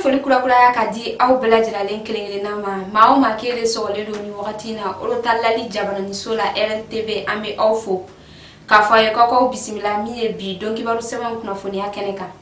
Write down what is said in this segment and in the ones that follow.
foli kurakuraya ka di aw bɛɛ lajɛlalen kelen kelenna ma maa o maa k'e de sɔgɔlen don nin wagati na orotalali jabaraniso la rntv an bɛ aw fo k'a fɔ a ye ko k'aw bisimila min ye bi don kibaru sɛbɛn kunnafoniya kɛnɛ kan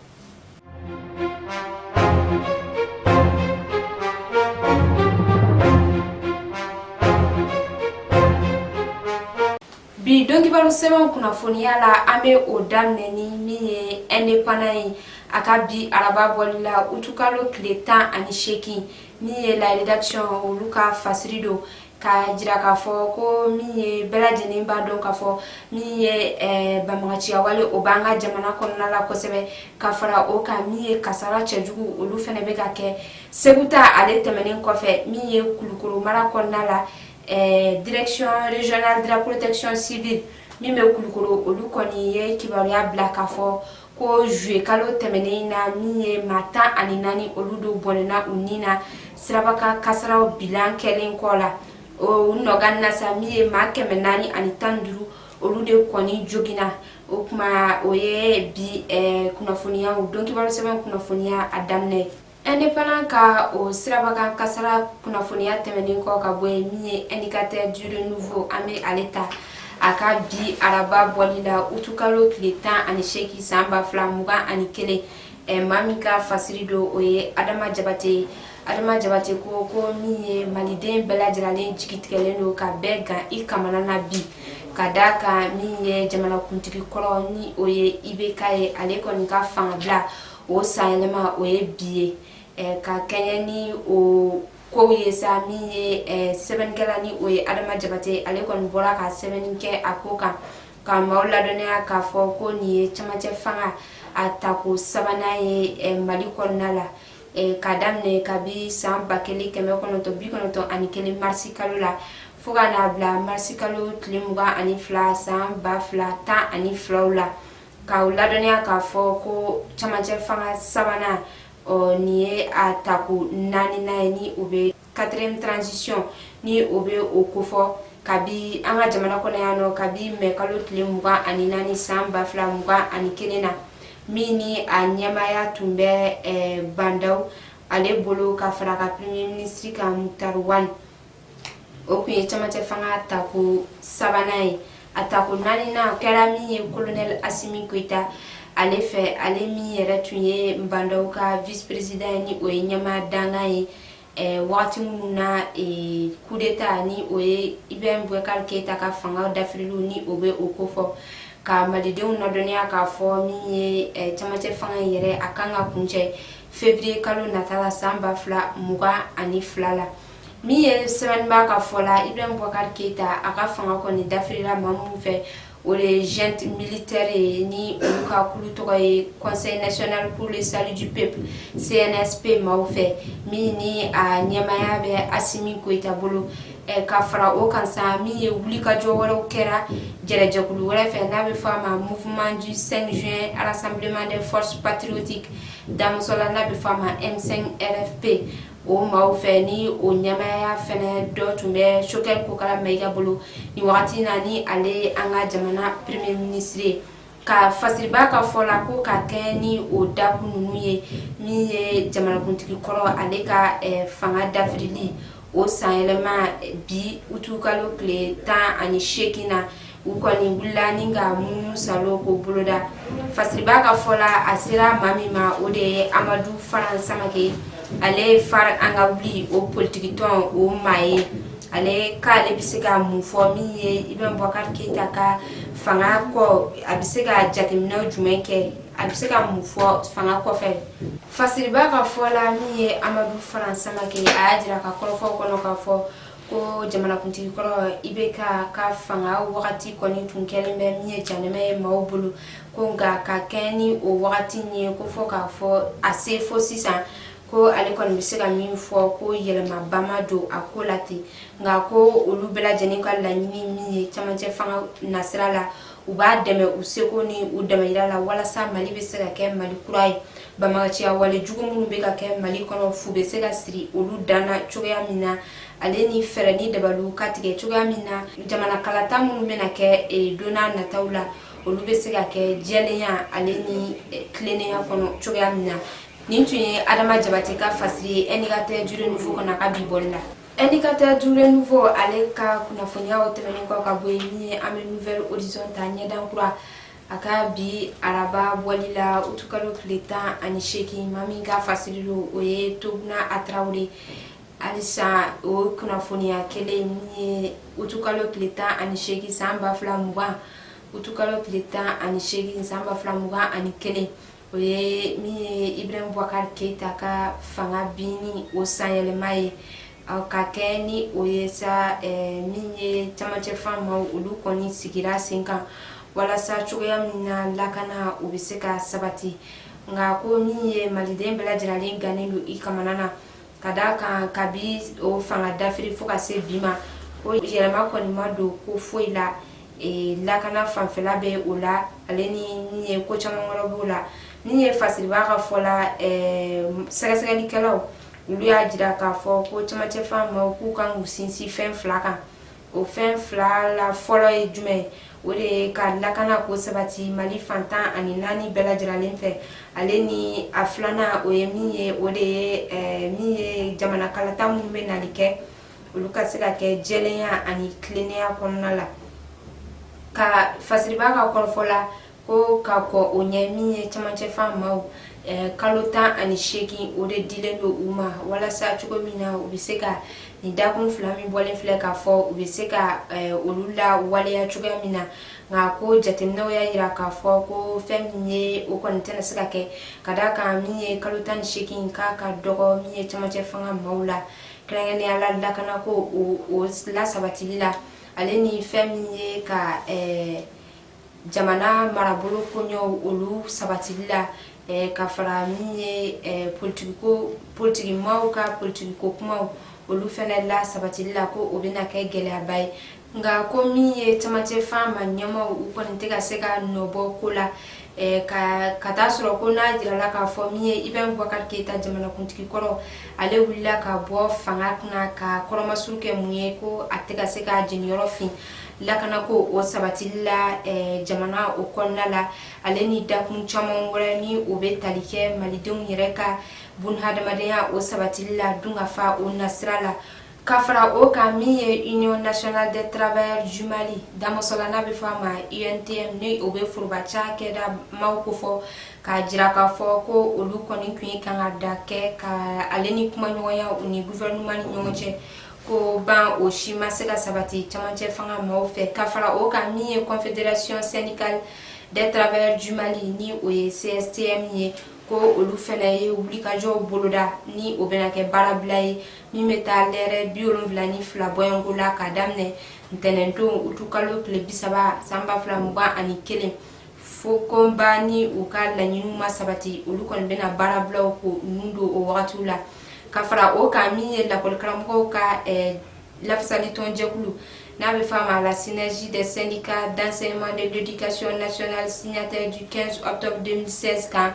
bi don kibaru sɛbɛnw kunnafoniya la an bɛ o daminɛ ni min ye Indépendant ye a ka bi araba bɔli la utukalo tile tan ani seegin min ye la rédaction olu ka fasiri don k'a jira k'a fɔ ko min ye bɛɛ lajɛlen b'a dɔn k'a fɔ min ye eh, banbaganciya wale o b'an ka jamana kɔnɔna la kosɛbɛ ka fara o kan min ye kasara cɛjugu olu fana bɛ ka kɛ segu ta ale tɛmɛnen kɔfɛ min ye kulukoro mara kɔnɔna la eh, direction régionale de la protection civile min bɛ kulukoro olu kɔni ye kibaruya bila k'a fɔ ko juye kalo tɛmɛnen na min ye maa tan ani naani olu de bɔnɛna u ni na sirabakan kasaraw bilan kɛlen kɔ la o nɔgan na sa min ye maa kɛmɛ naani ani tan duuru olu de kɔni jogina o kuma o ye bi eh, kunnafoniyaw don kibaru sɛbɛn kunnafoniya a daminɛ Indépendant ka o sirabakan kasara kunnafoniya tɛmɛnen kɔ ka bɔ yen min ye Indicateur du Renouveau an bɛ ale ta a ka bi araba bɔli la utukalo tile tan ani seegin san ba fila mugan ani kelen maa min ka fasiri don o ye adama jabate ye adama jabate ko ko min ye maliden bɛɛ lajɛralen jigitigɛlen don ka bɛɛ gan i kamana na bi ka da kan min ye jamanakuntigi kɔrɔ ni o ye ibk ye ale kɔni ka fangabila o sanyɛlɛma o ye bi ye eh, ka kɛɲɛ ni o kow ye sa min ye eh, sɛbɛnnikɛla ni o ye adama jabate ale kɔni bɔra ka sɛbɛnni kɛ a ko kan ka maaw ladɔnniya k'a fɔ ko nin ye camancɛ fanga a tako sabanan ye eh, mali kɔnɔna la eh, ka daminɛ kabi san ba kelen kɛmɛ kɔnɔntɔn bi kɔnɔntɔn ani kelen marisi kalo la fo ka n'a bila marisi kalo tile mugan ani fila san ba fila tan ani fila la K'aw ladɔnniya k'a fɔ ko camancɛ fanga sabanan o nin ye a tako naaninan ye ni o bɛ quatrième transition ni o bɛ o kofɔ kabi an ka jamana kɔnɔ yan nɔ kabi mɛ kalo tile mugan ani naani san ba fila mugan ani kelen na min ni a ɲɛmaaya tun bɛ eh, Ba Ndaw ale bolo ka fara a ka premier ministre kan Muktar Wani o tun ye camancɛ fanga tako sabanan ye a tako naaninan kɛra min ye kolonɛli asimi koyita ale fɛ ale min yɛrɛ tun ye ba ndaw ka vice président ye ni o ye ɲɛmaa dankan ye eh, wagati minnu na eh, kudeta ni o ye ibrahim bubakari keyita ka fanga dafirili ni o bɛ o kofɔ ka malidenw ladɔnniya k'a fɔ min ye eh, camancɛ fanga in yɛrɛ a kan ka kuncɛ février kalo nata la san ba fila mugan ani fila la min ye sɛbɛnniba ka fɔ la ibrahim bubakari keyita a ka fanga kɔni dafirila maa minnu fɛ o de ye junte militaire ye ni olu ka kulu tɔgɔ ye conseil national pour le salut du peuple cnsp maaw fɛ min ni a ɲɛmaya bɛ asimi koyita bolo eh, ka fara o kan sa min ye wulikajɔ wɛrɛw kɛra jɛrɛjɛkulu wɛrɛ fɛ n'a bɛ fɔ a ma mouvement du 5 juin rassemblement des forces patriotiques damusola n'a bɛ fɔ a ma m5 rfp o maaw fɛ ni o ɲɛmaya fɛnɛ dɔ tun bɛ choguel kokala mayiga bolo nin wagati na ni ale an ka jamana premier ministre ye ka fasiriba ka fɔ la ko ka kɛɲɛ ni o dakun ninnu ye min ye jamanakuntigi kɔrɔ ale ka eh, fanga dafirili o sanyɛlɛma bi utukalo tile tan ani seegin na u kɔni wulila ni ka munumunusaalo ko boloda fasiriba ka fɔ la a sera maa min ma o de ye amadu faran samake ale ye fare an ka wuli o politikitɔn o maa ye ale k'ale bɛ se ka mun fɔ min ye ibrahim bubakari keyita ka fanga kɔ a bɛ se ka jateminɛ jumɛn kɛ a bɛ se ka mun fɔ fanga kɔfɛ fasiriba ka fɔ la min ye amadu faran samake a y'a jira ka kɔrɔfɔ kɔnɔ ka fɔ ko jamanakuntigi kɔrɔ ibk ka fanga wagati kɔni tun kɛlen bɛ min ye janɛmɛ ye maaw bolo ko nka ka kɛɲɛ ni o wagati in ye ko fɔ k'a fɔ a se fo sisan ko ale kɔni bɛ se ka min fɔ ko yɛlɛmaba ma don a ko la ten nka ko olu bɛɛ lajɛlen ka laɲini min ye camancɛ fanga nasira la u b'a dɛmɛ u seko ni u damayira la walasa mali bɛ se ka kɛ mali kura ye banbagaciya wale jugu minnu bɛ ka kɛ mali kɔnɔ fu bɛ se ka siri olu dan na cogoya min na ale ni fɛɛrɛ ni dabaliw ka tigɛ cogoya min na jamana kalata minnu bɛna kɛ eh, donna nataw la olu bɛ se ka kɛ jɛlenya ale ni eh, tilennenya kɔnɔ cogoya min na nin tun ye adama jabate ka fasiri ye indicateur du renouveau kɔnɔ a ka bi bɔli la Indicateur du renouveau ale ka kunnafoniyaw tɛmɛnen kɔ ka bɔ yen ni an bɛ nouvel horizon ta ɲɛdan kura a ka bi araba bɔli la utukalo tile tan ani seegin maa min ka fasiri don o ye tuguna a tarawele halisa o kunnafoniya kelen min ye utukalo tile tan ani seegin san ba fila mugan utukalo tile tan ani seegin san ba fila mugan ani kelen o ye min ye ibrahim bubakari keyita ka fanga binni o sanyɛlɛma ye ka kɛ ni o ye sa eh, min ye camancɛ faamaw olu kɔni sigira sen kan walasa cogoya min na lakana o bɛ se ka sabati nka ko min ye maliden bɛɛ lajɛralen gannen don i kamana na ka d'a kan kabi o fanga dafiri fo ka se bi ma ko yɛlɛma kɔni ma don ko foyi la e, lakana fanfɛla bɛ o la ale ni min ye ko caman wɛrɛ b'o la min ye fasiriba ka fɔ la e, sɛgɛsɛgɛlikɛlaw olu y'a jira k'a fɔ ko camancɛ faamaw k'u kan k'u sinsin fɛn fila kan o fɛn fila la fɔlɔ ye jumɛn ye o de ye ka lakana ko sabati mali fan tan ani naani bɛɛ lajɛralen fɛ ale ni a filanan o ye min ye o de ye eh, min ye jamana kalata minnu bɛ nali kɛ olu ka se ka kɛ jɛlenya ani tilennenya kɔnɔna la ka fasiriba ka kɔrɔfɔ la ko ka kɔn o ɲɛ min ye camancɛ faamaw eh, kalo tan ani seegin o de dilen don u ma walasa cogo min na u bɛ se ka nin dakun fila min bɔlen filɛ k'a fɔ u bɛ se ka eh, olu lawaleya cogoya min na nka ko jateminɛw y'a jira k'a fɔ ko fɛn min ye o kɔni tɛna se ka kɛ ka d'a kan min ye kalo tan ni seegin k'a ka dɔgɔ min ye camancɛ fanga maaw la kɛrɛnkɛrɛnnenya la lakanako o lasabatili la ale ni fɛn min ye ka eh, jamana marabolo koɲɛw olu sabatili la eh, ka fara min ye eh, politikiko politikimaaw ka politikiko kumaw olu fɛnɛ lasabatili la ko o bɛna kɛ gɛlɛyaba ye nka ko min ye camancɛ faama ɲɛmaaw u kɔni tɛ ka se ka nɔ bɔ ko la eh, ka ka taa sɔrɔ ko n'a jirala k'a fɔ min ye ibrahim bubakari keyita jamanakuntigi kɔrɔ ale wulila ka bɔ fanga kunna ka kɔrɔmasuru kɛ mun ye ko a tɛ ka se ka jeniyɔrɔ fin lakana ko o sabatili la eh, jamana o kɔnɔna la ale ni dakun caman wɛrɛ ni o bɛ tali kɛ malidenw yɛrɛ ka bunhadamadenya o sabatili la dunkafa o nasira la ka fara o kan min ye union nationale des travailleurs du mali damasɔla n'a bɛ fɔ a ma untm ni o bɛ foroba cakɛda maaw kofɔ k'a jira k'a fɔ ko olu kɔni tun ye kan ka da kɛ ka ale ni kumaɲɔgɔnya u ni gouvernement ni ɲɔgɔn cɛ ko ban o si ma se ka sabati camancɛ fanga maaw fɛ ka fara o kan min ye confederation syndicale des travailleurs du mali ni o ye cstm ye ko olu fɛnɛ ye wulikajɔw boloda ni o bɛna kɛ baarabila ye min bɛ taa lɛrɛ bi wolonwula ni fila bɔɲɔnko la ka daminɛ ntɛnɛndon utu kalo tile bisaba san ba fila mugan ani kelen fo kɔnba ni u ka laɲiniw ma sabati olu kɔni bɛna baarabilaw ko nun don o wagatiw la ka fara o kan min ye lakɔlikaramɔgɔw ka eh, lafisali tɔnjɛkulu n'a bɛ f'a ma la synergie des syndicats d'enseignement de l'éducation nationale signataire du 15 octobre 2016 kan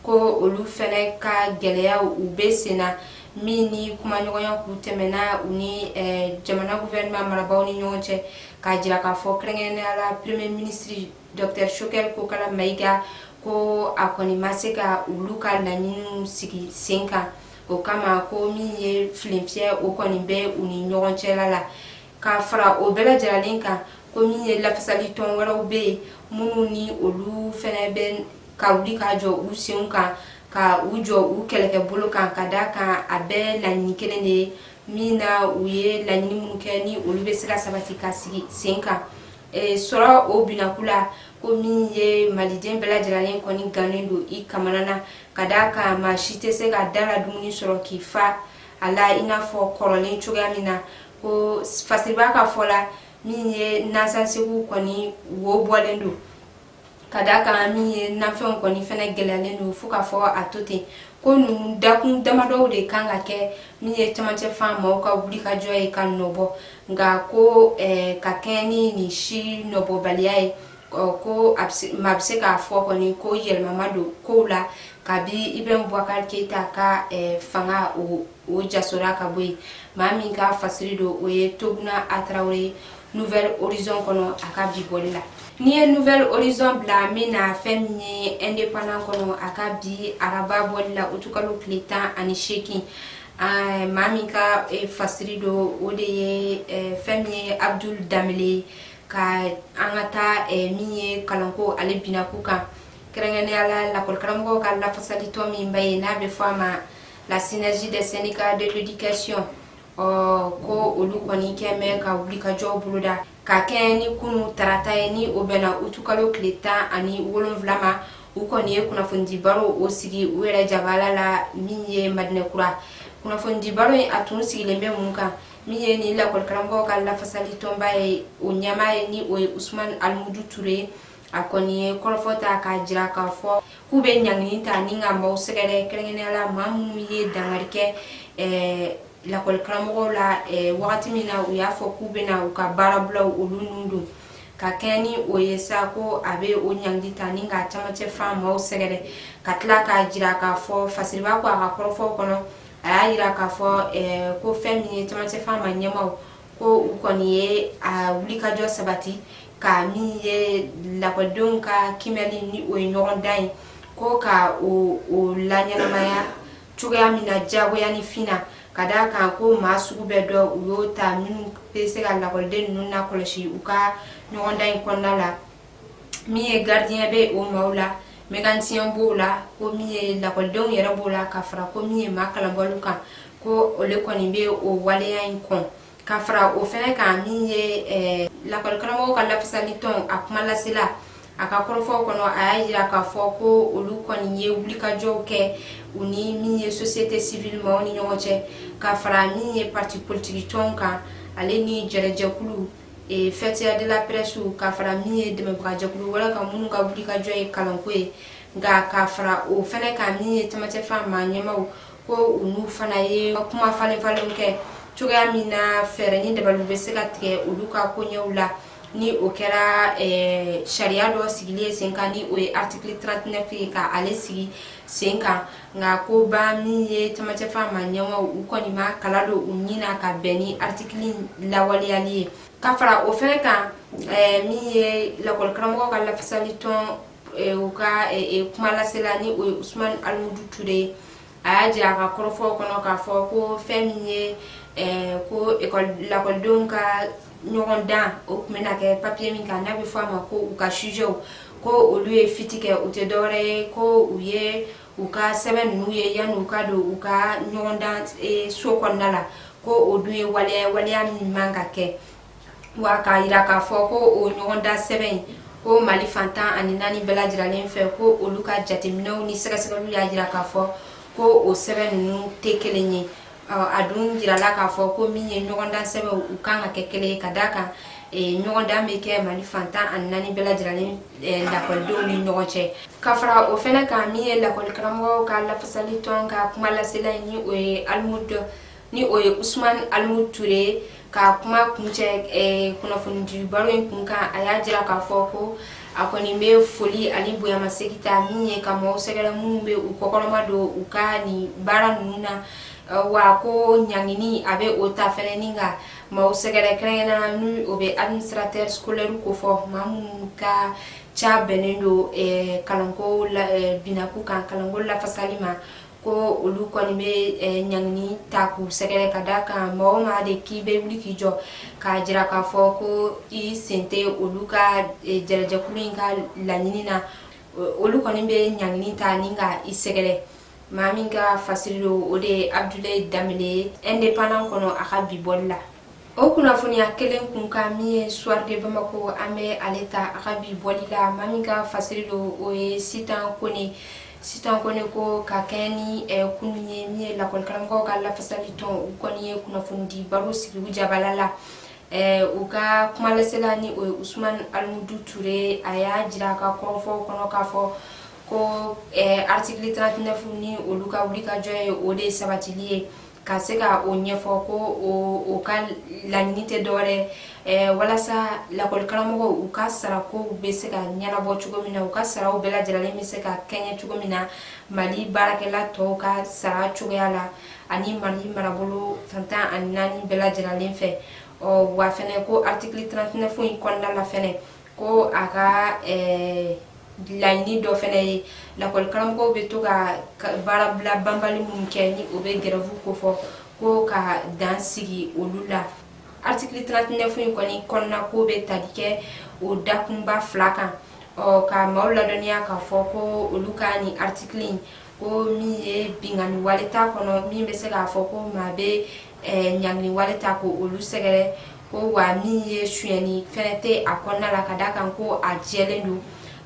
ko olu fɛnɛ ka gɛlɛyaw u bɛ sen na min ni kumaɲɔgɔnya k'u tɛmɛna u ni eh, jamana gouvernement marabaaw ni ɲɔgɔn cɛ k'a jira k'a fɔ kɛrɛnkɛrɛnnenya la premier ministre Docteur Choguel Kokalla Maïga ko a kɔni ma se ka olu ka laɲiniw sigi sen kan o kama ko min ye filenfiyɛ o kɔni bɛ u ni ɲɔgɔn cɛla la ka fara o bɛɛ lajɛlenlen kan ko min ye lafasali tɔn wɛrɛw bɛ yen minnu ni olu fɛnɛ bɛ ka wuli ka jɔ u senw kan ka u jɔ u kɛlɛkɛbolo kan ka da kan a bɛɛ laɲini kelen de ye min na u ye laɲini minnu kɛ ni olu bɛ se ka sabati ka sigi sen kan Eh, sɔrɔ o binaku la ko min ye maliden bɛɛ lajɛlenlen kɔni gannen don i kamana na ka da kan maa si tɛ se ka da la dumuni sɔrɔ k'i fa a la i n'a fɔ kɔrɔlen cogoya min na ko fasiriba ka fɔ la min ye nansansegu kɔni wo bɔlen don ka da kan min ye nafɛnw kɔni fɛnɛ gɛlɛyalen don fo k'a fɔ a to ten ko ninnu dakun damadɔw de kan ka kɛ min ye camancɛ fan maaw ka wulikajɔ ye ka nɔbɔ nka ko eh, ka kɛɲɛ ni nin si nɔbɔbaliya ye ko maa bɛ se k'a fɔ kɔni ko yɛlɛma ma don kow la kabi ibrahim bubakari keyita ka eh, fanga o o jasora ka bɔ yen maa min ka fasiri don o ye toguna a traoré nouvel horizon kɔnɔ a ka bi bɔli la n'i ye nouvel horizon bila min na fɛn min ye indépendant kɔnɔ a ka bi araba bɔli la utukalo tile tan ani seegin maa min ka eh, fasiri don o de ye eh, fɛn min ye abdul dembélé ka an ka taa eh, min ye kalanko ale binaku kan kɛrɛnkɛrɛnnenya la lakɔlikaramɔgɔw ka lafasalitɔn min ba ye n'a bɛ fɔ a ma la synergie des syndicats de l'éducation ɔ ko olu kɔni kɛ mɛ ka wulikajɔw boloda ka kɛɲɛ ni kunu tarata ye ni o bɛnna utukalo tile tan ani wolonfila ma u kɔni ye kunnafonidibaro o sigi u yɛrɛ jabala la min ye madinɛkura kunnafonidibaro in a tun sigilen bɛ mun kan min ye ni lakɔlikaramɔgɔw ka lafasali tɔnba ye o ɲɛmaa ye ni o ye usumani alimudu ture ye a kɔni ye kɔrɔfɔ ta k'a jira k'a fɔ k'u bɛ ɲangini ta ni ka maaw sɛgɛrɛ kɛrɛnkɛrɛnnenya la maa minnu ye dankari kɛ eh, lakɔli karamɔgɔw la eh, wagati min na u y'a fɔ k'u bɛna u ka baarabulaw olu nun don ka kɛɲɛ ni o ye sa ko a bɛ o ɲangili ta ni ka camancɛ fan maaw sɛgɛrɛ ka tila k'a jira k'a fɔ fasiriba ko a ka kɔrɔfɔw kɔnɔ a y'a jira k'a fɔ eh, ko fɛn min ye camancɛ fan ma ɲɛmaaw ko u kɔni ye a wulikajɔ sabati ka min ye lakɔlidenw ka kiimɛli ni o ye ɲɔgɔndan ye ko ka o laɲɛnamaya cogoya min na diyagoya ni fin na ka d'a kan ko maa sugu bɛɛ dɔ u y'o ta minnu bɛ se ka lakɔliden ninnu lakɔlɔsi u ka ɲɔgɔndan in kɔnɔna la min ye gardien bɛ o maaw la mécanicien b'o la ko min ye lakɔlidenw yɛrɛ b'o la ka fara ko min ye maa kalanbaliw kan ko olu kɔni bɛ o waleya in kɔn ka fara o fɛnɛ kan min ye eh, lakɔli karamɔgɔw ka lafasali tɔn a kuma lasela a ka kɔrɔfɔw kɔnɔ a y'a jira k'a fɔ ko olu kɔni ye wulikajɔw kɛ u ni min ye société civile maaw ni ɲɔgɔn cɛ ka fara min ye parti politiki tɔnw kan ale ni jɛrɛjɛkulu ee faîtière de la presse ka fara min ye dɛmɛbagajɛkulu wɛrɛ kan minnu ka wulikajɔ ye kalanko ye nka ka fara o fɛnɛ kan min ye camancɛfan maa ɲɛmaw ko u n'u fana ye kuma falen falenw kɛ cogoya min na fɛɛrɛ ni dabaliw bɛ se ka tigɛ olu ka koɲɛw la ni o kɛra eh, sariya dɔ sigili ye sen kan ni o ye article 39 ye ka ale sigi sen kan nka ko ba min ye camancɛfan maa ɲɛmaw u kɔni ma kala don u ɲin na ka bɛn ni article lawaleyali ye ka fara o fɛnɛ kan eh, min ye lakɔli karamɔgɔw ka lafasali tɔn eh, u ka eh, kuma lasela ni o ye usumani alimudu ture a y'a jira a ka kɔrɔfɔw kɔnɔ k'a fɔ ko fɛn min ye ko lakɔlidenw ka ɲɔgɔndan o tun bɛna kɛ papiye min kan n'a bɛ fɔ a ma ko u ka sujɛw ko olu ye fuite kɛ o tɛ dɔwɛrɛ ye ko u ye u ka sɛbɛn ninnu ye yanni u ka don u ka ɲɔgɔndan eh, so kɔnɔna la ko o dun ye waleya waleya min man ka kɛ wa k'a jira k'a fɔ ko o ɲɔgɔndan sɛbɛn in ko mali fan tan ani naani bɛɛ lajɛrɛlen fɛ ko olu ka jateminɛw ni sɛgɛsɛgɛliw y'a jira k'a fɔ ko o sɛbɛn ninnu tɛ kelen ye a dun jirala k'a fɔ ko min ye ɲɔgɔndan sɛbɛnw u kan ka kɛ kelen ye ka d'a kan ɲɔgɔndan bɛ kɛ mali fan tan ani naani bɛɛ lajɛlen lakɔlidenw ni ɲɔgɔn cɛ ka fara o fɛnɛ kan min ye lakɔli karamɔgɔw ka lafasali tɔn ka kuma lasela ni o ye alimudu ni o ye usumani alimudu ture ka kuma kuncɛ eh, kunnafonidibaro in kun kan a y'a jira k'a fɔ ko a kɔni bɛ foli ani bonyamasegin ta min ye ka maaw sɛgɛrɛ minnu bɛ u kɔkɔrɔma don u ka nin baara ninnu na eh, wa ko ɲangini a bɛ o ta fɛnɛ ni ka maaw sɛgɛrɛ kɛrɛnkɛrɛnnenya la ni o bɛ administrateur scolaire kofɔ maa minnu ka ca bɛnnen don eh, kalanko binaku kan kalanko lafasali ma ko olu kɔni bɛ eh, ɲangini ta k'u sɛgɛrɛ ka da kan mɔgɔ ma de k'i bɛ wuli k'i jɔ k'a jira k'a fɔ ko i sen tɛ olu ka eh, jɛrɛjɛkulu in ka laɲini na olu kɔni bɛ ɲangini ta ni ka i sɛgɛrɛ maa min ka fasiri don o de ye abudulayi danbele ye indépendant kɔnɔ a ka bi bɔli la o kunnafoniya kelen kun kan min ye soir de bamako an bɛ ale ta a ka bi bɔli la maa min ka fasiri don o ye sitan kone sitan kone ko ka kɛɲɛ ni eh, kunun ye min ye lakɔlikaramɔgɔw ka lafasali tɔn u kɔni ye kunnafonidi baro sigi u jabala la eh, u ka kumalasela ni o ye usman alimudu ture a y'a jira a ka kɔrɔfɔw kɔnɔ k'a fɔ ko eh, artikili 39 ni olu ka wulikajɔ ye o de sabatili ye ka se ka o ɲɛfɔ ko o ka laɲini tɛ dɔwɛrɛ eh, walasa lakɔlikaramɔgɔw u ka sarakow bɛ se ka ɲɛnabɔ cogo min na u ka saraw bɛɛ lajɛlen bɛ se ka kɛɲɛ cogo min na mali baarakɛla tɔw ka sara cogoya la ani mali marabolo fan tan ani naani bɛɛ lajɛlen fɛ wa fɛnɛ ko artikili 39 in kɔnɔna la fɛnɛ ko a ka laɲini dɔ fɛnɛ ye lakɔlikaramɔgɔw bɛ to ka baarabila banbali minnu kɛ ni o bɛ gɛrɛfu kofɔ ko ka dan sigi olu la artikili 39 in kɔni kɔnɔna ko bɛ tali kɛ o dakunba fila kan ɔ ka maaw ladɔnniya k'a fɔ ko olu ka nin artikili in ko min ye binkanni wale t'a kɔnɔ min bɛ se k'a fɔ ko maa bɛ eh, ɲangini wale ta ko olu sɛgɛrɛ ko wa min ye sunyɛni fɛnɛ tɛ a kɔnɔna la ka d'a kan ko a jɛlen don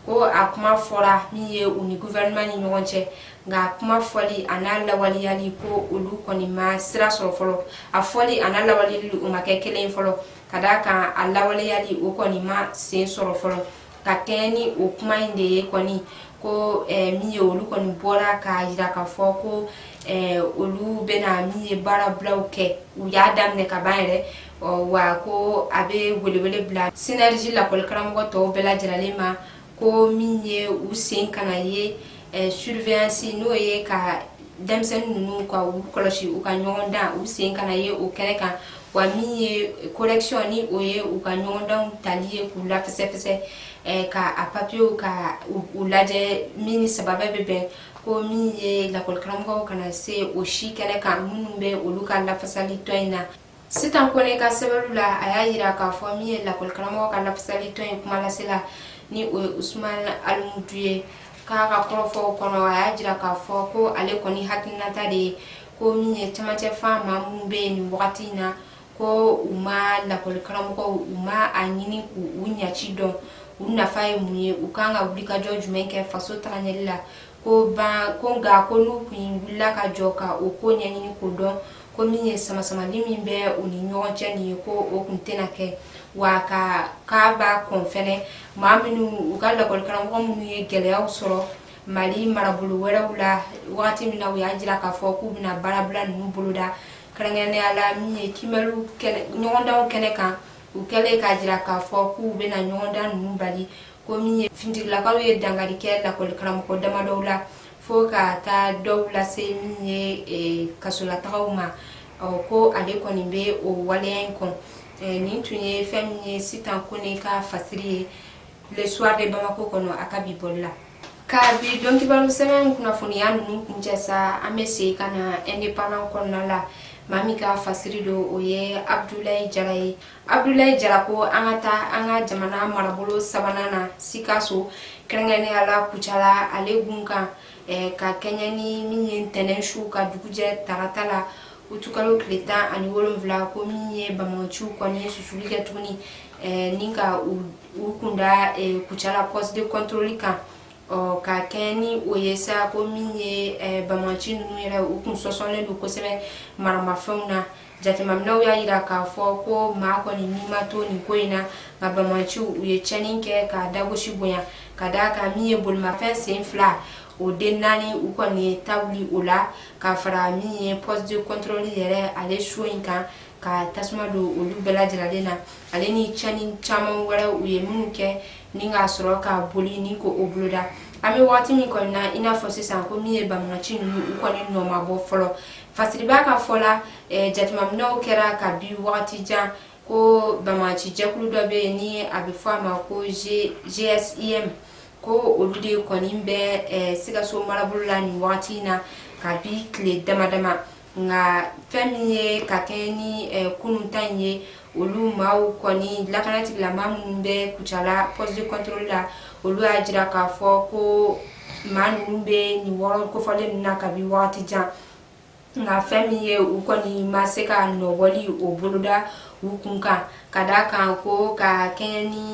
ko a kuma fɔra min ye u ni guvɛrɛnɛman ni ɲɔgɔn cɛ nka kuma fɔli a n'a lawaleyali ko olu kɔni ma sira sɔrɔ fɔlɔ a fɔli a n'a lawaleyali o ma kɛ kelen fɔlɔ ka d'a kan a lawaleyali o kɔni ma sen sɔrɔ fɔlɔ ka kɛɲɛ ni o kuma in de ye kɔni ko eh, min ye olu kɔni bɔra k'a jira k'a fɔ ko eh, olu bɛna min ye baarabulaw kɛ u y'a daminɛ ka ban yɛrɛ wa ko a bɛ welewele bila sinɛriji lakɔlikaramɔgɔ tɔw bɛɛ lajɛrɛlen ma ko min ye u sen kana ye eh, surveillance n'o ye ka denmisɛnnin ninnu ka u kɔlɔsi u ka ɲɔgɔndan u sen kana ye o kɛnɛ kan wa min ye correction ni o ye u ka ɲɔgɔndanw tali ye k'u lafɛsɛfɛsɛ eh, ka a papiyew ka u lajɛ min ni sababa bɛ bɛn ko min ye lakɔlikaramɔgɔw kana se o si kɛnɛ kan minnu bɛ olu ka lafasali tɔn in na sitan kone ka sɛbɛnw la a y'a yira k'a fɔ min ye lakɔlikaramɔgɔw ka lafasali tɔn in kumalasela ni o ye usman alimudu ye k'a ka kɔrɔfɔw kɔnɔ a y'a jira k'a fɔ ko ale kɔni hakilinata de ye ko min ye camancɛ fan maa minnu bɛ yen nin wagati in na ko u ma lakɔlikaramɔgɔw u ma a ɲini k'u ɲaci dɔn u nafa ye mun ye u kan ka wulikajɔ jumɛn kɛ faso tagaɲɛli la ko ban ko nka ko n'u kun wulila ka jɔ ka o ko ɲɛɲini k'o dɔn ko min ye samasamali min bɛ u ni ɲɔgɔn cɛ nin ye ko o kun tɛna kɛ wa ka k'a b'a kɔn fɛnɛ maa minnu u ka lakɔlikaramɔgɔ minnu ye gɛlɛyaw sɔrɔ mali marabolo wɛrɛw la wagati min na u y'a jira k'a fɔ k'u bɛna baarabila ninnu boloda kɛrɛnkɛrɛnnenya la min ye kimɛliw ɲɔgɔndanw kɛnɛ kan u kɛlen k'a jira k'a fɔ k'u bɛna ɲɔgɔndan ninnu bali ko min ye finitigilakaw ye dankari kɛ lakɔli karamɔgɔ damadɔw la fo ka taa dɔw lase min ye e, kasolatagaw ma ko ale kɔni bɛ o waleya in kɔn e, nin tun ye fɛn min ye sitan kone ka fasiri ye le soir de bamako kɔnɔ a ka bi bɔli la ka bi dɔnkibaru sɛbɛn kunnafoniya ninnu kuncɛ sa an bɛ segin ka na independant kɔnɔna la maa min ka fasiri don o ye abdulayi jara ye Abudulayi Jara ko an ka taa an ka jamana marabolo sabanan na Sikaso kɛrɛnkɛrɛnnenya la Kucala ale gun kan ka kɛɲɛ ni min ye ntɛnɛn su ka dugujɛ tarata la utukalo tile tan ani wolonwula ko min ye bamaganciw kɔni ye susuli kɛ tuguni ni ka u kunda Kucala poste de contrôle kan ɔ ka kɛɲɛ ni o ye sa ko min ye eh, bamaci ninnu yɛrɛ u kun sɔsɔlen don kosɛbɛ maramafɛnw na jateminɛw y'a jira k'a fɔ ko maa kɔni ni ma to nin ko in na nka bamaciw u ye cɛnni kɛ k'a dagosi bonya ka d'a kan min ye bolimafɛn sen fila o den naani u kɔni ye ta wuli o la ka fara min ye poste de contrôle yɛrɛ ale so in kan ka tasuma don olu bɛɛ lajɛlen na ale ni cɛnni caman wɛrɛ u ye minnu kɛ ni ka sɔrɔ ka boli ni ko o boloda an bɛ waati min kɔni na i n'a fɔ sisan ko min ye bamaganci ninnu u kɔni nɔ ma bɔ fɔlɔ fasiribaa ka fɔ la eh, jateminɛw kɛra ka bi wagati jan ko bamaganci jɛkulu dɔ bɛ yen ni a bɛ fɔ a ma ko gsim ko olu de kɔni bɛ eh, sikaso marabolo la nin wagati in na ka bi tile dama dama nka fɛn min ye ka kɛɲɛ ni kunun ta in ye olu maaw kɔni lakanatigilamaa minnu bɛ kucala poste de contrôle la olu y'a jira k'a fɔ ko maa ninnu bɛ nin yɔrɔ kofɔlen ninnu na kabi wagati jan nka fɛn min ye u kɔni ma se ka nɔbɔli o boloda u kun kan ka d'a kan ko ka kɛɲɛ ni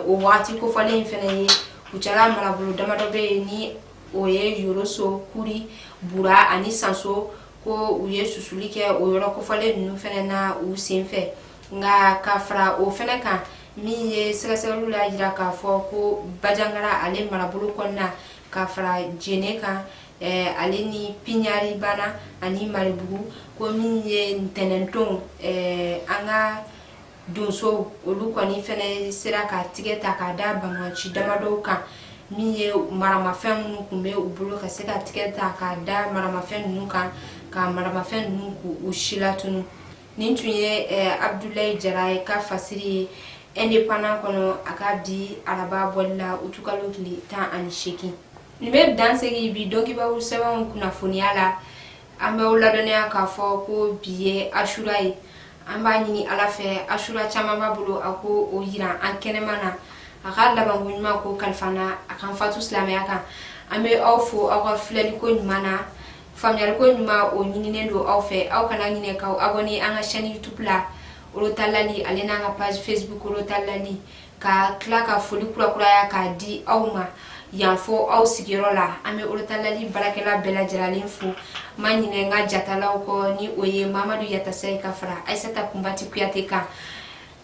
o wagati kofɔlen in fɛnɛ ye kucala marabolo damadɔ bɛ yen ni o ye yoroso kuri bura ani sanso ko u ye susuli kɛ o yɔrɔ kofɔlen ninnu fɛnɛ na u sen fɛ nka ka fara o fɛnɛ kan min ye sɛgɛsɛgɛliw y'a jira k'a fɔ ko bajangara ale marabolo kɔnɔna ka fara jene kan eh, ale ni piɲari bana ani maribugu ko min ye ntɛnɛndon eh, an ka donsow olu kɔni fɛnɛ sera ka tigɛ ta k'a da banbaanci damadɔw kan min ye maramafɛn minnu tun bɛ u bolo ka se ka tigɛ ta k'a da maramafɛn ninnu kan ka maramafɛn ninnu k'u si latunu nin tun ye eh, abdulayi jara ka fasiri ye indépendant kɔnɔ a ka bi araba bɔli la utukalo tile tan ani seegin nin bɛ dan sigi bi donkibaru sɛbɛnw kunnafoniya la an bɛ aw ladɔnniya k'a fɔ ko bi ye asura ye an b'a ɲini ala fɛ asura caman b'a bolo a k'o yira an kɛnɛma na a ka labanko ɲuman k'o kalifa an na a k'an fatu silamɛya kan an bɛ aw fo aw ka filɛliko ɲuman na faamuyaliko ɲuman o ɲininen don aw fɛ aw kana ɲinɛ k'aw abɔne an ka chaîne youtube la orotalali ale n'an ka page facebook orotalali ka tila ka foli kurakuraya k'a di aw ma yan fo aw sigiyɔrɔ la an bɛ orotalali baarakɛla bɛɛ lajɛlalen fo ma ɲinɛ n ka jatalaw kɔ ni o ye mamadu yatasayi ka fara ayisata kunbati kuyate kan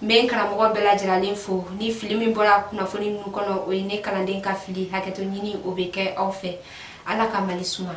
n bɛ n karamɔgɔ bɛɛ lajɛlalen fo ni fili min bɔra kunnafoni ninnu kɔnɔ o ye ne kalanden ka fili hakɛto ɲini o bɛ kɛ aw fɛ ala ka mali suma